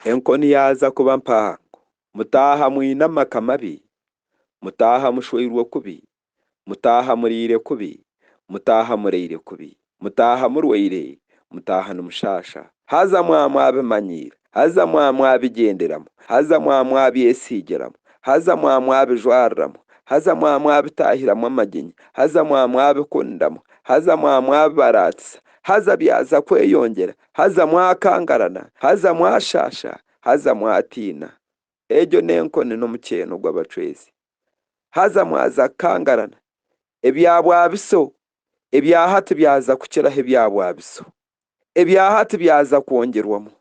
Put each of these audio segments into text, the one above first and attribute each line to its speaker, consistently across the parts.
Speaker 1: Enkoni yaaza kuba mpaango. Mutaaha mwine amaka mabi, mutaaha mushweirwe kubi, mutaaha muriire kubi, mutaaha muraire kubi, mutaaha murwaire, mutaaha nimushaasha. Haza mwaba mwabimanyiire, haza mwaba mwabigyenderamu, haza mwaba mwabyesiigiramu, haza mwaba mwabijwariramu, haza mwaba mwabitaahiramu amaginyo, haza mwaba mwabikundamu, haza mwaba mwabibaraatisa, haza byaza kweyongyera, Haza mwakangarana, haza mwashaasha, haza mwatiina. Egyo n'enkoni n'omukyeeno gw'abacwezi. Haza mwaza kukangarana. Ebya bwabiso ebya hati byaza kukiraho ebya bwabiso. Ebya hati byaza kwongyerwamu.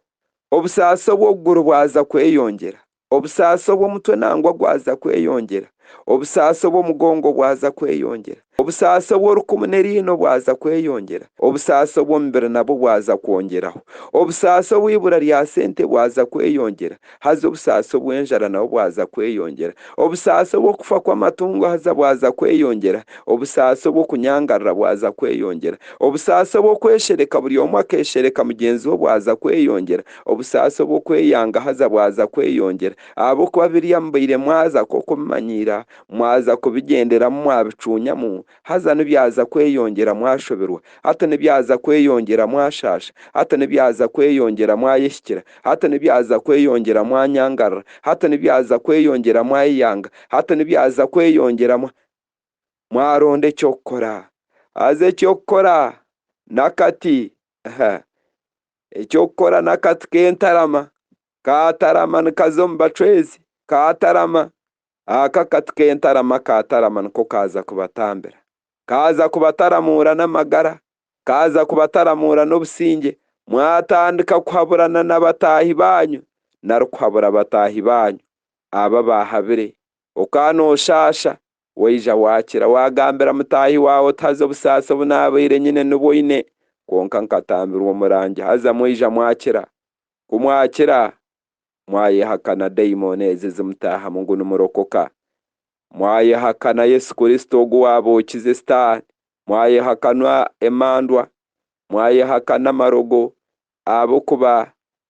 Speaker 1: Obusaasi obw'okuguru bwaza kweyongyera. Obusaasi obw'omutwe nangwa gwaza kweyongyera, obusaasi obw'omugongo bwaza kweyongyera, obusaasi obw'orukumu n'eriino bwaza kweyongyera, obusaasi obw'omubiri nabwo bwaza kwongyeraho, obusaasi obw'eibura rya sente bwaza kweyongyera, haza obusaasi obw'enjara nabwo bwaza kweyongyera, obusaasi obw'okufa kw'amatungo haza bwaza kweyongyera, obusaasi obw'okunyangarira bwaza kweyongyera, obusaasi obw'okweshereka buri omwe akeshereka mugyenzi we bwaza kweyongyera, Obusaasi obw'okweyanga haza bwaza kweyongyera. Ahabw'okuba biriya mubaire mwaza nk'oku obimanyiira, mwaza kubigyenderamu mwabicuunyamu, haza nibyaza kweyongyera mwashoberwa, hati nibyaza kweyongyera mwashaasha, hati nibyaza kweyongyera mwayehikira, hati nibyaza kweyongyera mwanyangarira, hati nibyaza kweyongyera mwayeyanga, hati nibyaza kweyongyera mwa, mwaronda eky'okukora. Haza eky'okukora, nakati, ha, Eky'okukora n'akati k'entarama. Kaatarama nikaza omu bacwezi. Kaatarama, ako akati k'entarama kaatarama niko kaaza kubatambira. Kaaza kubataramuura n'amagara. Kaaza kubataramuura n'obusingye. Mwatandika kuhaburana na bataahi baanyu, nari kuhabura bataahi baanyu, abo abaahabire, okaanooshaasha, Waija waakira waagambira mutaahi waawe oti haza obusaasi obu naabaire nyine nibwo oine, kwonka nkatambirwa omurangi haza mwaija mwakira. Ku mwakira, mwayehakana daimooni ezo ezimutaahamu ngu nimurokoka. Mwayehakana Yesu Kristo ogu waabookize Sitaane. Mwayehakana emandwa. Mwayehakana amarogo ahabw'okuba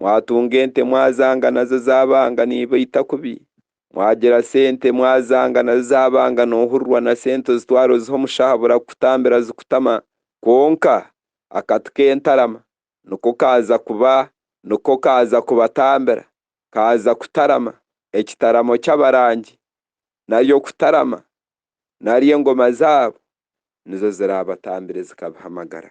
Speaker 1: Mwatunga ente mwazanga nazo zabanga nibaita kubi, mwagira sente mwazanga nazo zabanga nohurirwa na sente ozitwara oziha omushaho burakutambira zikutama kwonka akati kentarama niko kaza kuba niko kaza kubatambira kaza kutarama ekitaramo kyabarangi nari okutarama nari engoma zabo nizo zirabatambire zikabiha amagara.